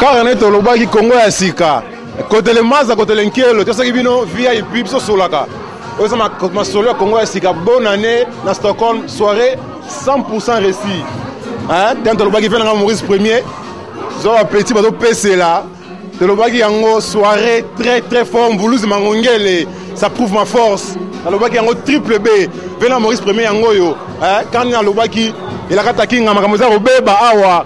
kaka nde tolobaki kongo ya sika kotele maza kotele nkelo tosaki bino vip biso solaka oyo eza masolo ya kongo ya sika bonne année na stockholm soirée 100 réussi ntango tolobaki mpe nanga maurice premier zo bapeti bazopesela tolobaki yango soirée très très fort mbuluzi mangongele ça prouve ma force nalobaki yango triple b mpe na maurice premier yango oyo kandi nalobaki elakata kinga makambo eza kobeba awa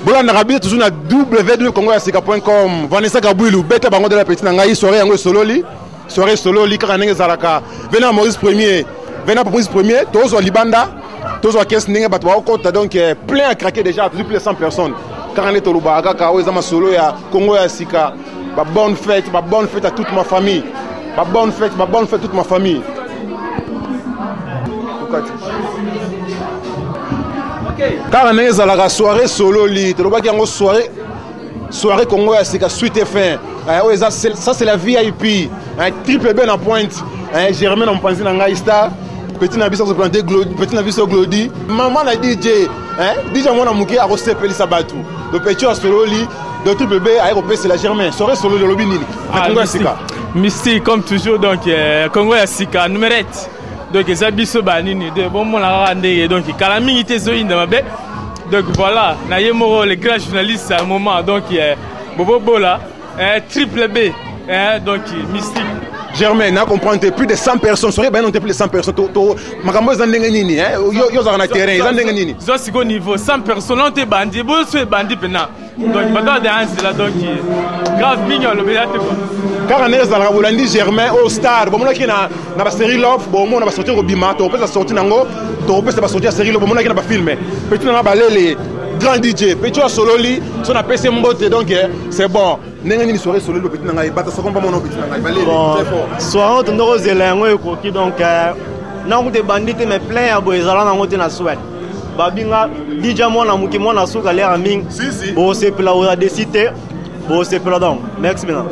bolandaka biso toujours na ww congo ya sika point com vanessa kabwilu beta bango de la petit na ngai soirée yango esololi soirée esololi kaka ndenge ezalaka vena maurice premier vena maurice premier tozwa libanda tozwa kesi ndenge bato baokota donc eh, plein à craquer déjà tozwi plus de 100 personnes kaka nde tolobaka kaka oyo eza masolo ya congo ya sika Ba bonne fête, ba bonne fête à toute ma famille. Ba bonne fête, ba bonne fête toute ma famille. Tukati. kaka ndenge ezalaka soirée sololi tolobaki yango soirée soirée congo ya sika suite fin eh, oyo eza ça c'est la vip eh, triple b na pointe eh, germain na mopanzi na ngai star petit na biso azoplante petit na biso glodi mama na dj dj mwana moke akosepelisa bato lopecho asololi Docteur Bebe aye kopesela Germain sore solo lolobi nini na Congo ya sika mystique comme toujours donc euh, Congo ya sika numerette donc eza biso ba nini de bomona kaka ndenge donc kala mingi te ezoyinda mabe donc voilà na ye moko le grand journaliste à un moment donc euh, Bobo Bola euh, triple B euh, donc mystique Germain, n'a compris plus de 100 personnes, soyez bien plus de 100 personnes, makambo eza ndenge nini eh? yo ozalaka na terrain eza ndenge nini zwa siko niveau sans personne oyo te ebandi eboso ebandi mpena donc bato ya daya nzela donc grave mingi olobela te kua kaka ndenge ezalaka bolandi germain o star bomonaki na basérie love bomona basorti kobima tokopesa sorti na yango tokopesa basorti ya série love bomonaki na bafilme petit nanga balele grand dj petit oyo asololi so napesi mbote donc eh, c'est bon ndenge nini soirée soleli bapeti na ngai bata soko mpa mona opeti na ngai baleli très fort soirée oyo tondoko ozela yango ekoki donc euh, nakuta ebandi te mais plein ya boye ezala nango te na swel babinga dija mwana moke mwana suka lera mingi bosepela oza desi te bosepela donc merci bina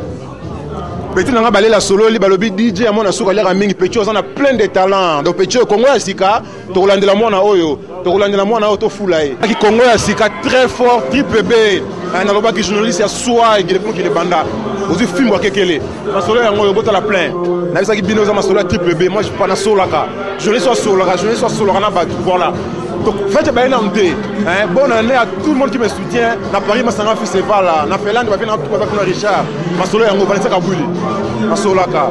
petit na ngai balela sololi balobi dj ya mwana suka lera mingi petit oza na plein de talent donc petit oyo kongo ya sika tokolandela mwana oyo tokolandela mwana oyo tofula ye aki kongo ya sika très fort triple b eh, nalobaki journaliste ya swai gilebukile banda ozwi fimbo akekele masolo yango oyo botala plein nayebisaki bino eza masolo ya triple b moi pa nasolaka journaliste asolaka journaliste asolaka na bato voilà donc fete baye nanu te bonne année à tout le monde qui me soutient na paris masanga festival na finlande bafe na baza kuna richard masolo yango vanisaka bwili nasolaka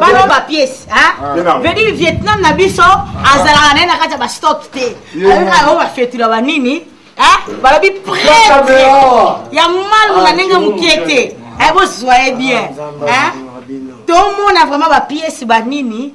bano bapiece vedi vietnam na biso azalaka naye na kati ya bastock te ayokaka oyo bafetula banini balobi prete ya malu na ndenge mokie te bozwa ye bien tomona vraiment bapiece banini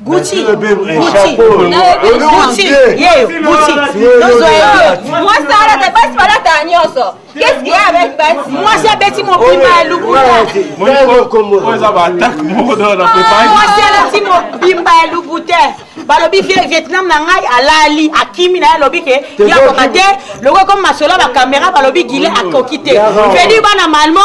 Gucci, Gucci, Gucci, yeyo, Gucci, nozo yeyo. Mwasi alata basi balata nyonso. Qu'est-ce qu'il y a avec basi? Mwasi abeti mopima ya lukuta. Mwasi alati mopimba ya lukuta. balobi vie vietnam na ngai alali akimi na ye alobi ke yakoka te lokola komi masolo ya bakamera balobi gile akoki te fredi bana malmo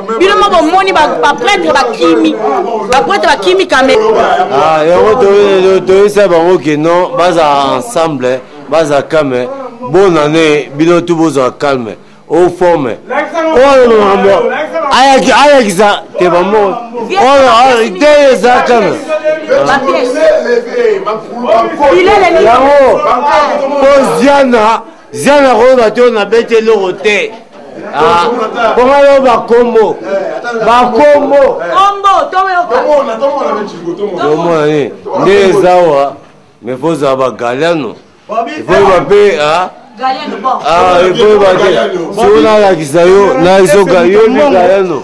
bino moko omoni bapretre bakimi bapretre bakimi kame ah, yango toyesa bango ke non baza ensemble baza kame bonne année bino tu bozwa calme oforme oyo makambo ayakisa te bamo oyo te eza calme yango koziana zia na koyeba te oyo nabeti eloko te ah, mpo ngai yo bakombo bakombo tomona nini nde eza wa mais fozala bagaliano ifoyeba mpe ah, ah, ifoyeba te soki nalakisa yo nazoka yo ni galiano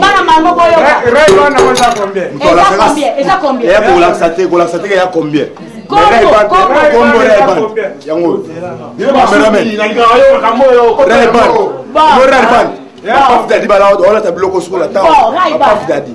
bana mango boyokaeza combien kolakisa te kolakisa te ya combien yango yango dadi balaa olata biloko sukola ntango dadi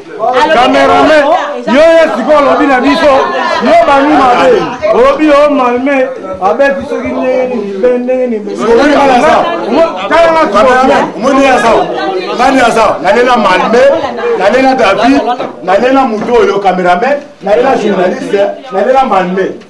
kamerame yo ye sikoyo olobi na biso yo bami mabe olobi yo malme abeti soki ndenge nini be ndenge niniomoni aza nani aza nalela malme nalela david nalela moto oyo kamerame nalela journaliste nalela malme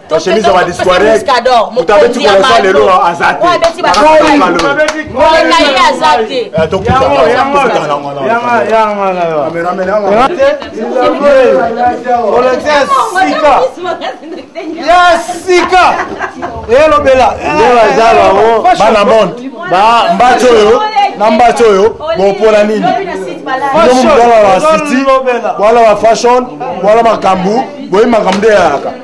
chemise ya badisquarek moto abeti kolesa lelo aza te ya sika elobela bana monde mbatsi oyo na mbatsi oyo bopona nini bino mobala ba city bwala ba fashion bwala makambo boyi makambo nde yayaka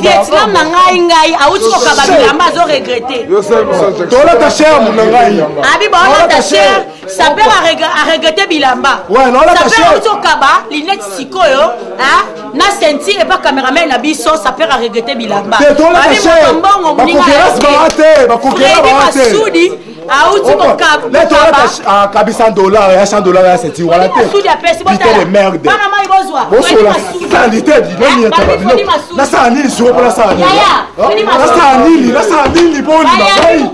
vietnam na ngai ngai auti kokaba bilamba azo regrete tolata sherme na ngai abiba olata sher saper aregrete bilamba saper auti kokaba linete sikoyo na senti epa cameraman na biso saper aregrete bilamba mbongo moninga masudi auti mokabu akabisa dollar ya 100 dollar ya seti wana te pite de merde bosola salite dinonietaba bino nasala nini siko mpo nasala nini nasala nini nasala nini mpo ondima ngai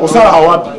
osala wapi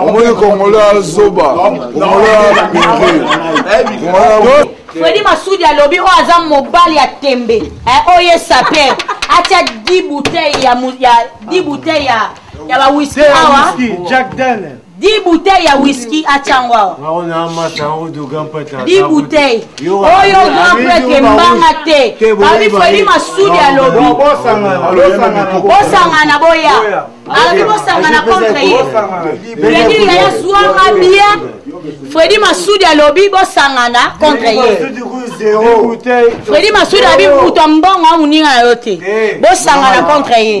omoni kongola zoba fredi masudi alobi oyo aza mobali ya tembe oyo esape atya 10 bouteille ya 10 bouteille ya ya ba whisky awa Jack Daniel 10 bouteilles ya whisky atia yango awa10 bouteilles oyo grand prêtre embanga te babi fredi masudi alobi bosangana boya alobi bosangana contre ye fredi yaya zwanga bien fredi masudi alobi bosangana contre ye fredi masudi abi moto mbongo amoninga na yo te bosangana contre ye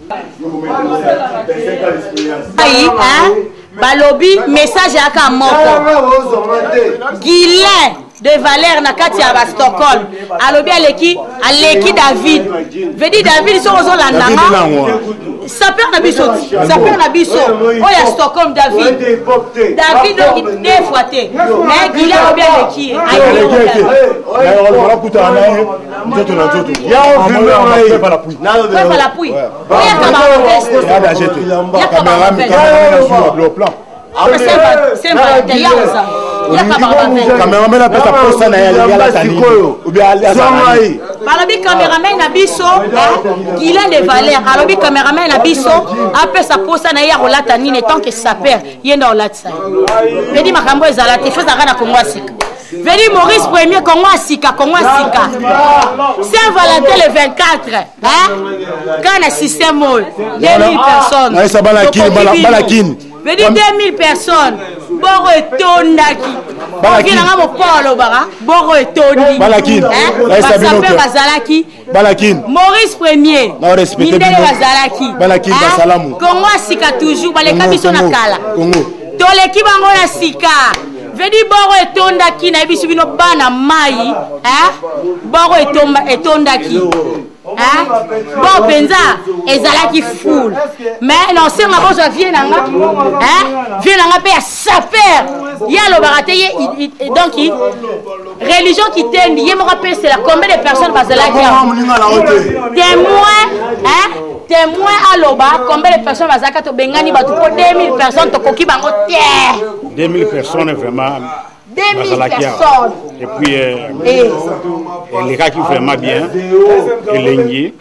ayi balobi message yaka moko gilet de valeur na kati ya bastockholm alobi aleki aleki david vedi david soki ozolandanga saper na biso saper na biso oyo ya stockholm david david oki defwa te mais gile alobi aleki ye nzoto na nzoto cameraman apesa posa na yalataniobalobi cameraman na biso gilen de valeur alobi cameraman na biso apesa posa na ye ya kolata nini etant que saper ye nde olatisa ye edi makambo ezala te fo ezalaka na kongo ya sika Veli Maurice premier Congo ya sika Congo ya sika Saint Valentin le 24 hein quand na système oyo 2000 personnes naisa bana kin bana kin vedi 2000 personnes boko etondaki oki nanga mopao alobaka boko etondi basape bazalaki balakini maurice premier mindele bazalaki balakini ah, basalamu kongo ya sika toujours baleka biso na kala toleki bango ya sika vedi boro etondaki nayebisi bino bana mai eh? boro etondaki bon mpenza ezalaki foule mais naosenga bozwa vie na nga vie na nga mpe ya saper ye alobaka te ye donc religion kitendi ye moko apesela combien de personnes bazalaki témoin témoin aloba combien de personnes bazalaka tobengani bato mpo 2000 personnes tokoki bango te 2000 personnes vraiment bazalaki awa epuis elekaki vraiment bien elengi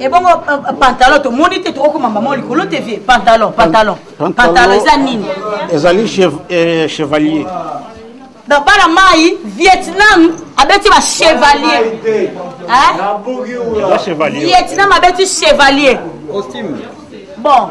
ebongo eh, euh, euh, pantalon tomoni te tokokoma mama likolo te vie pantalon pantalon pantalon eza nini ezali euh, chevalier na bana mai vietnam abeti ba chevalier vietnam abeti chevalier bon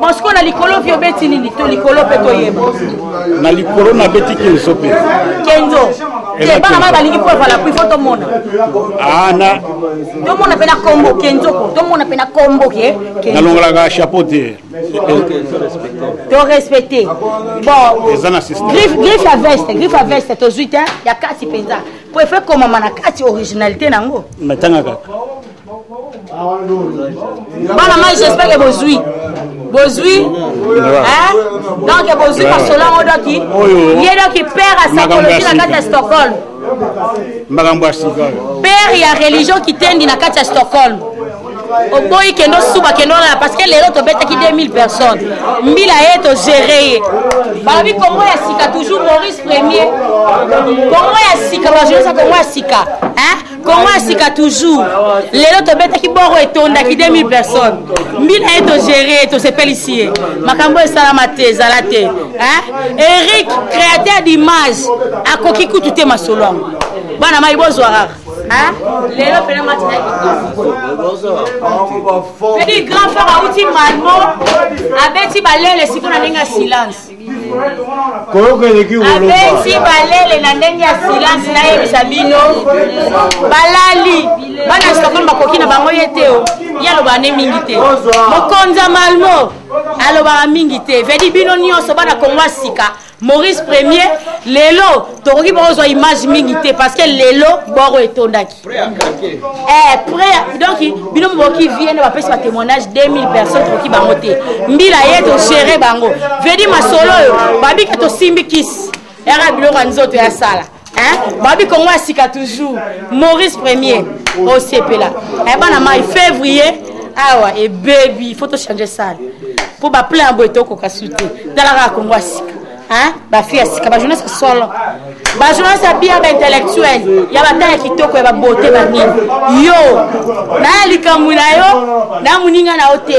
mosiko na likolo vi obeti nini to likolo mpe toyeba na likolo nabeti kenzo mpe kenzo te bana mai balingi mpo evala kui fo tomona ana ah, tomona mpe na kombo kenzo ko tomona mpe na kombo ke nalongolaka chapeau te to respecte bongriffe ya veste griffe ya veste tozwi te ya kati mpenza mpo efe komama na kati originalité na yango metanga kaka bana mai j'espère que bozwi bozwi hein? donc bozwi masolo yango doki ye doki père ya psychologie na kati ya stockholm makambo ya sika père ya religion kitendi na kati ya stockholm oboyi kende osuba kende olala parce que lelo tobetaki 2000 personnes mbila ye togere ye balobi kongo ya sika toujours maurice premier kongo ya sika bajoyesa kongo ya sika hein? kongo ya sika toujours lelo tobetaki boro etondaki 2000 personnes mbila ye togere tosepelisi ye makambo esalama te ezala te eric créateur d'image akoki kutu te masolo yango bana mai bozwa kaka lelo mpena matinaki pedi grand frère auti malmo abeti balele siko na ndenge ya silence koyoka eleki abeti balele na ndenge ya silence nayebisa bino balali bana stokholm bakoki na bango ye te o oh. ye alobaka ne mingi te mokonzi ya malmo alobaka mingi te vedi bino nyonso bana kongo ya sika maurice premier lelo tokoki bakozwa image mingi te parce que lelo boro etondaki Eh, prêt donc bino moboki vie nde bapesi ba témoignage 2000 personnes tokoki bango te mbila ye togere bango vedi masolo oyo babika tosimbi kisi yaka biloko ya nzoto ya sala babi kongo ya sika toujours maurice premier osepela eh, bana mai février awa ebebi fo tochange sale mpo baplan ya boye tokoka su te talaka ya kongo ya sika Hein? ba fille ya sika ba journaliste solo ba journaliste ya bia ba intellectuel ya batala kitoko ya babote banini yo naya likambo na yo na moninga na yo te